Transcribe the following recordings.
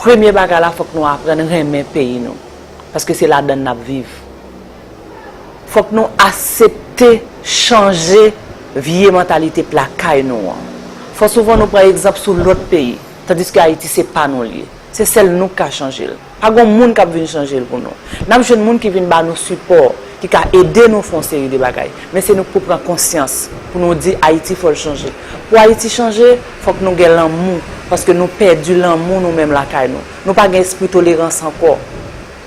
premye bagay la fòk nou aprann renmen peyi nou paske se ladann n ap viv. Fòk nou asepte chanje vye mantalite p lakay nou an. Fò souvan nou pran egzanp sou lòt peyi tandiske Ayiti se pa nou l ye. Se sèl nou k ka chanje l. Pa gon moun k ap vin chanje l pou nou. N ap jwenn moun ki vin ba nou sipò, ki ka ede nou fè yon seri de bagay. Men se nou k pou pran konsyans, pou nou di Ayiti fò l chanje. Pou Ayiti chanje, fòk nou gen lanmou, paske nou pèdi lanmou nou menm lakay nou. Nou pa gen espri tolerans ankò.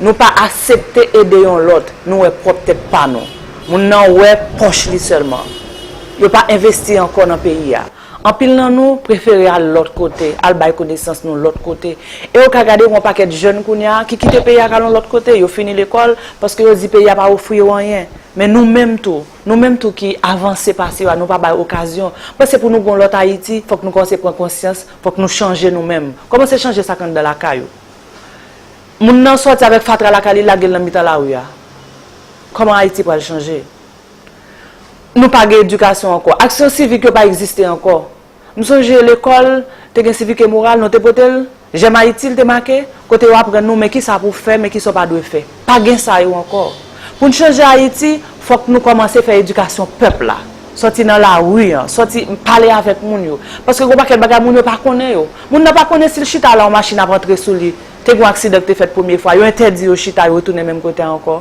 Nou pa asepte ede yon lòt, nou wè pwòp tèt pa nou. Moun nan wè pòch li sèlman. Yo pa envesti ankò nan peyi a. Anpil nan nou prefere al lòt kote, al bay konesans nou lòt kote. E ou ka gade yon pakèt jèn kounya ki kite peyi a k al yon lòt kote, yo fini lekòl, paske yo di peyi a pa ofri yo anyen. Men nou menm tou, nou menm tou ki avanse pase yo a, nou pa bay okazyon. Paske pou nou gen yon lòt Ayiti, fòk nou kòmanse pran konsyans, fòk nou chanje nou menm. Kòmanse chanje sa k anndan lakay ou. Moun nan sòti avèk fatra lakay li, lage l nan mitan lari a. Kòman Ayiti pral chanje? Nou pa gen edikasyon ankò. Aksyon sivik yo pa egziste ankò. M sonje lekòl, te gen sivik e moral, nou te pote l, Jèm Ayiti l te make, kote yo aprann nou men ki sa pou w fè, men ki sa w pa dwe fè. Pa gen sa yo ankò. Pou n chanje Ayiti, fòk nou kòmanse fè edikasyon pèp la. Sòti nan lari an, sòti, pale avèk moun yo. Paske gen yon pakèt bagay moun yo pa konnen yo. Moun nan pa konnen si l chita la yon machin ap antre sou li. Te gen yon aksidan ki te fèt premye fwa, yo entèdi yo chita, yo retounen menm kote a ankò.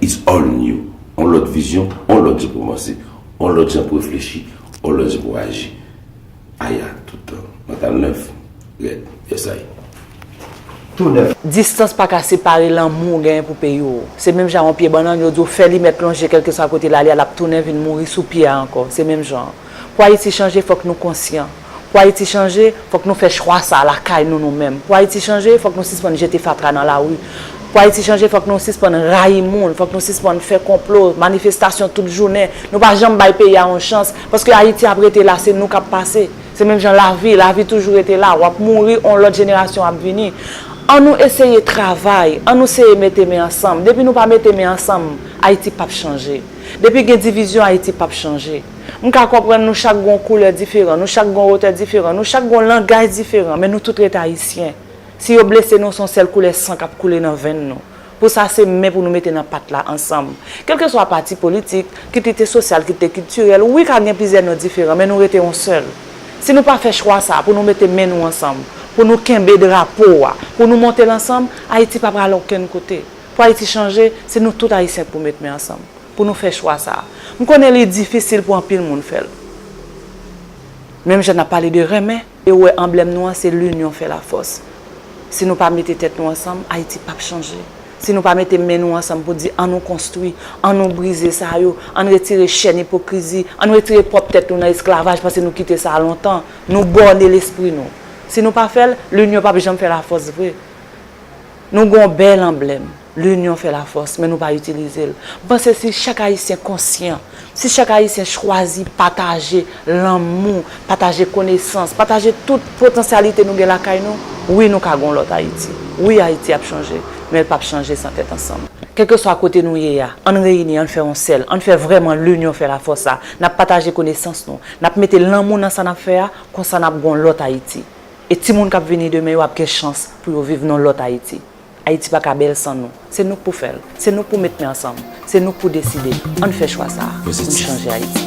It's all new. On lòt vizyon, on lòt jan pou panse, on lòt jan pou reflechi, on lòt jan pou aji. Aya, tout tan. Mantal nèf, rèd, yesay. Tou nèf. Distans pa ka separe lanmou ou genyen pou peyi w. Se menm jan yon pye bannann, yo di w fè li mèt lonje kèlkeswa kote l ale a l ap tounen vin mouri sou pye a ankò. Se menm jan an. Pou Ayiti chanje fòk nou konsyan. Pou Ayiti chanje, fòk nou fè chwa sa a lakay nou nou menm. Pou Ayiti chanje, fòk nou sispann jete fatra nan lari. Pou Ayiti chanje, fòk nou sispann rayi moun, fòk nou sispann fè konplo, manifestasyon tout jounen. Nou pa janm bay peyi a yon chans, paske Ayiti ap rete la, se nou k ap pase. Se menm jan lavi, lavi toujou rete la, w ap mouri, yon lòt jenerasyon ap vini. An nou eseye travay, an nou seye mete men ansanm. Depi nou pa mete men ansanm, Ayiti p ap chanje. Depi gen divizyon, Ayiti p ap chanje. M ka konprann nou chak gon koulè diferan, nou chak gon wotè diferan, nou chak gon langaj diferan, men nou tout ret Ayisyen. Si yo blese nou, se yon sèl koulè san k ap koule nan venn nou. Pou sa, se men pou nou mete nan pat la ansanm. Kèlkeswa pati politik, kit li te sosyal, kit te kiltirèl, wi ka gen plizyè non diferan, men nou rete yon sèl. Si nou pa fè chwa sa a, pou nou mete men nou ansanm, pou nou kenbe drapo a, pou nou monte l ansanm, Ayiti pa pral okenn kote. Pou Ayiti chanje, se nou tout Ayisyen k pou met men ansanm. pou nou fè chwa sa. M konnen li difisil pou anpil moun fè l. Menm jan n ap pale de renmen e wè anblèm nou an se linyon fè lafòs. Si nou pa mete tèt nou ansanm, Ayiti pap chanje. Si nou pa mete men nou ansanm pou di an nou konstwi, an nou brize sa yo, an n retire chèn ipokrizi, an n retire pwòp tèt nou nan esklavaj pase nou kite sa lontan, nou bòne lespri nou. Si nou pa fè l, linyon pap janm fè lafòs vre. Nou gen yon bèl anblèm, L'union fait la force, men nou pa itilize l. M panse si chak Ayisyen konsyan, si chak Ayisyen chwazi pataje lanmou, pataje konesans, pataje tout potansyalite nou gen lakay nou, wi nou ka gen yon lòt Ayiti. Wi Ayiti ap chanje, men l pap chanje san tèt ansanm. Kèlkeswa kote nou ye a, ann reyini, ann fè yon sèl, ann fè vrèman L'union fait la force sa, n ap pataje konesans nou, n ap mete lanmou nan sa n ap fè a, konsa n ap gen yon lòt Ayiti. E timoun k ap vini demen yo ap gen chans pou yo viv nan lòt Ayiti. Ayiti pa ka bèl san nou. Se nou k pou fè l. Se nou k pou met men ansanm. Se nou k pou deside. An n fè chwa sa a pou n chanje Ayiti.